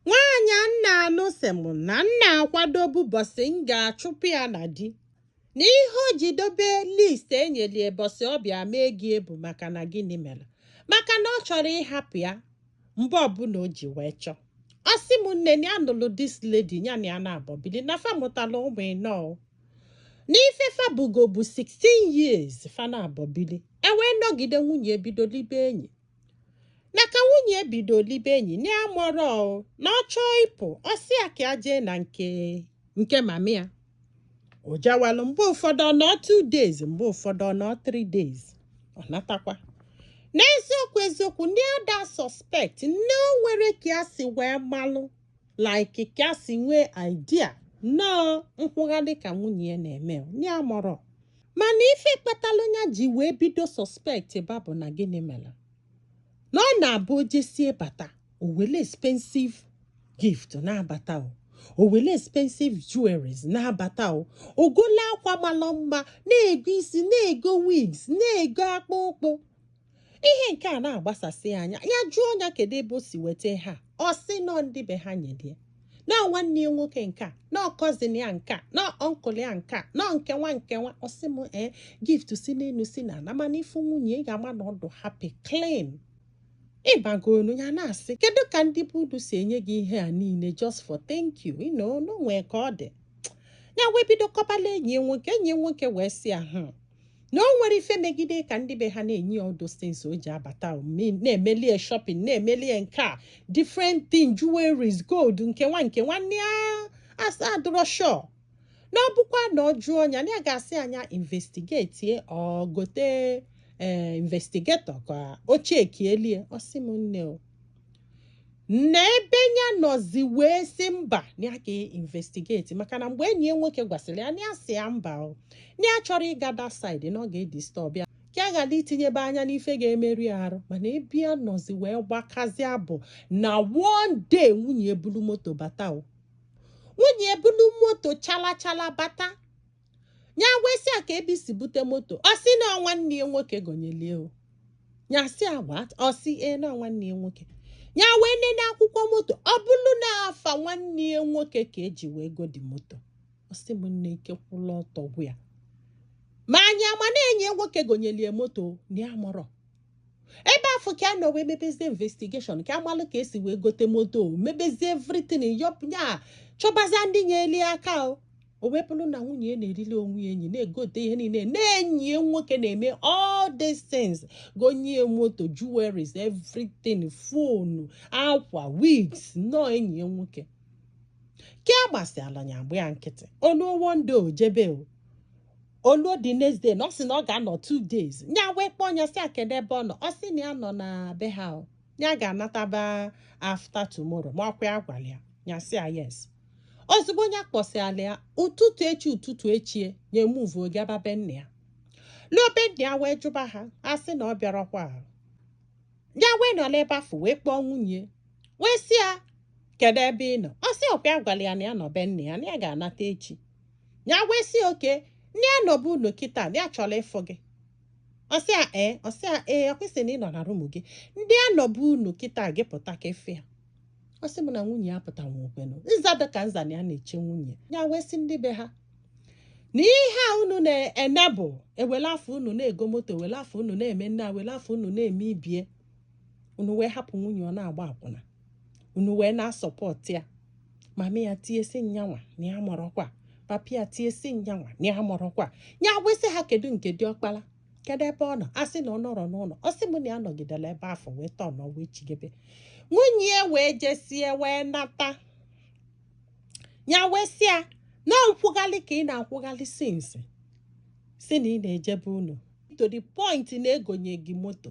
Nwaanyị a m na-anụ sị m na m na-akwado ụbọsị m ga-achụpụ ya na di na ihe o ji dobe list enyelie bọsị ọ bịa mee gị ebu maka na gịnị melụ maka na ọ chọrọ ịhapụ ya mgbe ọbụna o ji wee chọọ ọ sị m nne na ya nụlụ this lady ya na ya naabọ bili na fa mụtalụ ụmụ ịnọ o. n'ife fa bigo bụ 16 years fa naabọ bili e wee nọgide nwunye ebido libe enyi na ka nwunye bido libe enyi na ya amarọ o, na ọ chọọ ịpụ ọ sị ya ka ya jee na nke mama ya o jewalụ mgbe ụfọdụ ọ nọ two days mgbe ụfọdụ ọ nọ three days ọ natakwa n'eziokwu eziokwu na ya ada suspect nne o nwerọ ka ya si wee malụ like ka si nwee idea nnọọ nkwụgharị ka nwunye ya na-eme ya amarọ mana ife kpatalụ ya ji wee bido suspect ba bụ na gịnị melụ na ọ na-abụ o jesie bata o wele expensive gift na-abata o o wele expensive jewelries na-abata o o golụ akwa malụ mma na-ego isi na-ego wigs na-ego akpụkpụ ihe nke a na-agbasasị anya ya jụọ ya kedu ebe o si weta ha ọ sị na ọ ndị be ha nyelie na nwanne ya nwoke nke a na ọ cousin ya nke a na ọ uncle ya nke a na nke nwa nke nwa ọ sị m ee eh, gift si n'enu si na ana mana ị fụ nwunye ị ga-ama na ọ dụ happy clean ịbagonu ya na-asị kedu ka ndị be unu si enye gị ihe a niile just for thank you you know na o nwe ka ọ dị ya wee bido kọbalụ enyi nwoke enyi nwoke wee sị ya hmm, na o nwere ife megide ka ndị be ha na-enye all those things o ji abata na-emeli ya shopping na-emeli ya nke a different thing jewelries gold nke nwa nke nwa na ya adịrọ sure na ọ bụkwa na ọ jụọ nya na ya ga-asị nya investigate ọ gote ee eh, investigator ka o chekielie ọ sị m nne o na ebe ya nọzi wee sị mba na ya ka investigate maka na mgbe enyi ya nwoke gwasịlị ya ya sị ya mba o na ya achọrọ ịga that side na ọ ga-edisturb ya ka a ghara itinyebe anya n'ife ga-emerụ ya arụ mana ebe ya nọzi wee gbakazia bụ na one day nwunye ebulu moto bata o nwunye ebulu moto chala chala bata nya wee sị ya kee ebe i si bute moto ọ sị na nwanne ya nwoke gonyelie o nya sị what ọ sị ee na nwanne ya nwoke ya wee nene akwụkwọ moto ọ bụlụ na afa nwanne ya nwoke ka e ji wee gote moto ọ sị m nne ike kwụlụ ọtọ gwụ ya ma nya ama na enyi ya nwoke gonyelie moto na ya amarọ ebe afụ ka a nọ wee mebezie investigation ka a malụ ka e si wee gote moto mebezie everything yọpụ ya chọbazie ndị nyeli aka o o wee bụrụ na nwunye ya na-erili onwe ya enyi na-egote ihe niile na enyi ya nwoke na-eme all these things gonye ya moto jewelries everything phone akwa wigs nnọọ enyi ya nwoke ke agbasịala ya agba ya nkịtị o luo one day o jebe o o luo the next day na ọ sị na ọ ga-anọ two days nya wee kpọọ ya sị ya kede ebe ọ nọ ọ sị na ya nọ na be ha o ya ga-anataba after tomorrow ma ọkwa ya gwara ya ya sị ya yes ozugbo nya kpọsịala ya ụtụtụ echi ụtụtụ echi nya emuvu gaba be nna ya luo be nna ya wee jụba ha a sị na ọ bịarọkwa ya wee nọ n'ebe afụ wee kpọọ nwunye wee sị ya kedu ebe ị nọ ọ sị ọkwa ya gwara ya na ya nọ be nna ya na ya ga-anata echi ya wee sị okay na ya nọ be unu kịta na ya chọrọ ịfụ gị ọ sị ya ee ọ sị ya ee ọkwa ị sị na ị nọ na room gị and ya nọ be unu kịta gị pụta ka ị fụ ya ọ sị m na nwunye ya pụta nwa okwenụ nza dị ka nza na ya na-eche nwunye ya wee sị ndị be ha na ihe a unu na-ene bụ ewele afọ unu na-ego moto ewele afọ unu na-eme nne a wele afọ unu na-eme ibie unu wee hapụ nwunye ọ na-agba akwụna unu wee na-asupport ya mama ya tie sị nya nwa na ya amarọkwa papa ya tie sị nya nwa na ya amarọkwa ya wee sị ha kedu nke diọkpara kedu ebe ọ nọ a sị na ọ nọrọ n'ụlọ ọ sị m na ya nọgidere ebe afụ wee tọọ na wee chigebe nwunye ya wee jesie wee nata ya wee sị ya na nkwụghalị ka ị na-akwụghalị since sị na ị na-eje be unu to the point na e gonye gị moto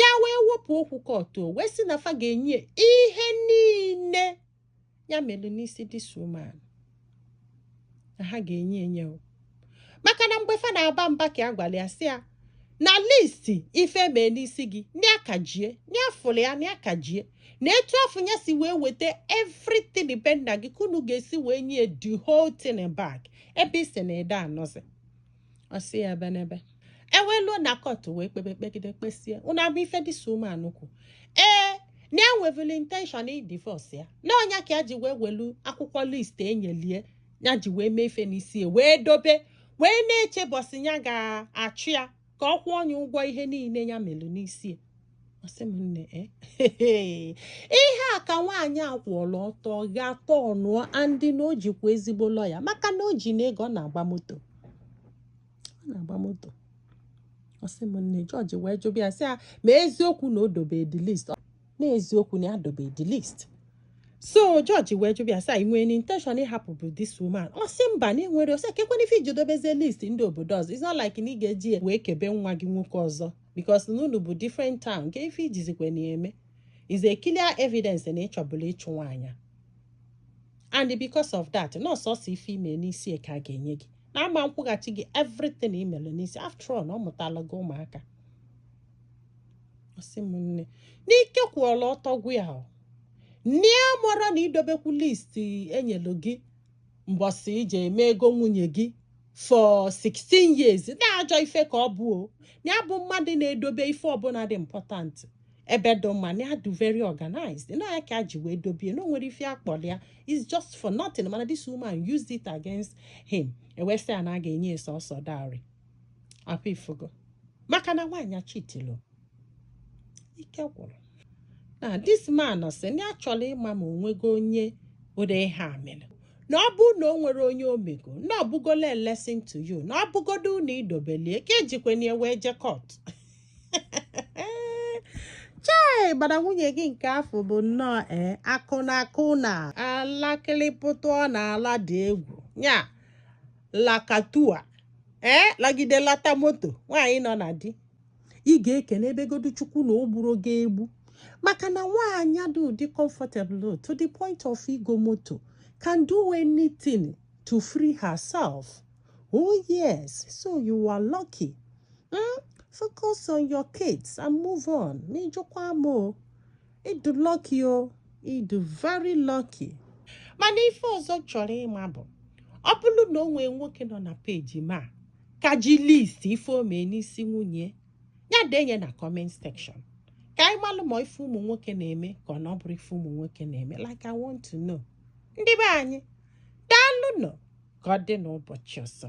ya wee wepụ okwu court wee sị na fa ga-enye ya ihe niile ya melu n'isi this woman na ha ga-enye ya enye maka na mgbe fa na-aba mba ka ya gwara ya sị ya na list ife e mee n'isi gị na aka ji ya na a fụlụ ya na aka ji ya na etu afụ ya si wee weta everything be nna gị ka unu ga-esi wee nye ya the whole thing back ebe ị sị na ị da-anọzi ọ sị ya ebenebe e wee luo na court wee kpebe kpegide kpesie ọ na-abụ ife this woman kwu ee na enwevulu intention ịdivorce ya na ọ nya ka ya ji wee welu akwụkwọ list e nyelụ ya ya ji wee mee ife n'isi ya wee dobe wee na-eche ụbọsị ya ga-achụ ya ka ọ kwụọ nya ụgwọ ihe niile ya melu n'isi ya ọ sị m nne eh? ihe a ka nwaanyị a kwụọla ọtọ gha atọ ọnụ o and na o jikwa ezigbo lawyer maka na o jinụ ego ọ na-agba moto ọ na-agba moto ọ sị m nne judge wee jụba ya sị ya ma eziokwu na o dobe the list na eziokwu na ya dobe the list so judge wee jụba ya sị ya ị nwere intention ịhapụbu this woman ọ sị mba na ya enwerọ ọ sị kekwanụ ife i ji dobezie list ndị obodo ọzọ it's not like na ị ga-eji ya wee kebe nwa gị nwoke ọzọ because na unu bụ different town nke ife i jizikwa na-eme is a clear evidence na ị chọbula ịchụ nwaanyị and because of that na ọ sọsọ ife i mee n'isi ka a ga-enye gị na a ma-akwụghachi gị everything i mere n'isi after all na ọ mụtala gị ụmụaka ọ sị m nne n'ike kwụọla ọtọ gwụ ya na amarọ na idobekwu list e nyelu gị mbọsị i je eme ego nwunye gị for 16 years na ajọ ife ka ọ bụ o na ya bụ mmadụ na-edobe ife ọbụla dị important ebe dị mma na ya dị very organized na ya ka e ji wee dobie na o nwerọ ife a kpọrọ ya is just for nothing mana this woman used it against him e wee sị ya na a ga-enye ya sọsọ dowry ọkwa ị fụgo maka na nwaanyị acheatilo ike gwụrụ na this man sị na ya chọrọ ịma ma o nwego onye ụdị ihe a mere na ọ bụrụ na o nwere onye o mego na ọ bụgola lesson to you na ọ bụgodu na i dobeli ya ka e jikwanị ya wee je court chai gbara nwunye gị nke afụ bụ nnọọ ee akwụna akwụna alakịrịpụtụ ọ na-ala dị egwu ya lakatua ee lagide lata moto nwaanyị nọ na di ị ga-ekenebegodu chukwu na o gburo gị egbu maka na nwaanyị dị ụdị comfortable to the point of ịgo moto can do anything to free herself oh yes so you are lucky mm? focus on your kids and move on na ị jụkwa m o ị dụ lucky o ị dụ very lucky mana ife ọzọ chọrọ ịma bụ ọ bụrụ na o nwee nwoke nọ na page m a ka ji list ife o mee n'isi nwunye ya denye na comment section ka anyị malụ ma ọ ife ụmụ nwoke na-eme ka ọ na ọ bụrọ ife ụmụ nwoke na-eme like I want to know ndị be anyị daalụ nụ ka ọ dị n'ụbọchị ọzọ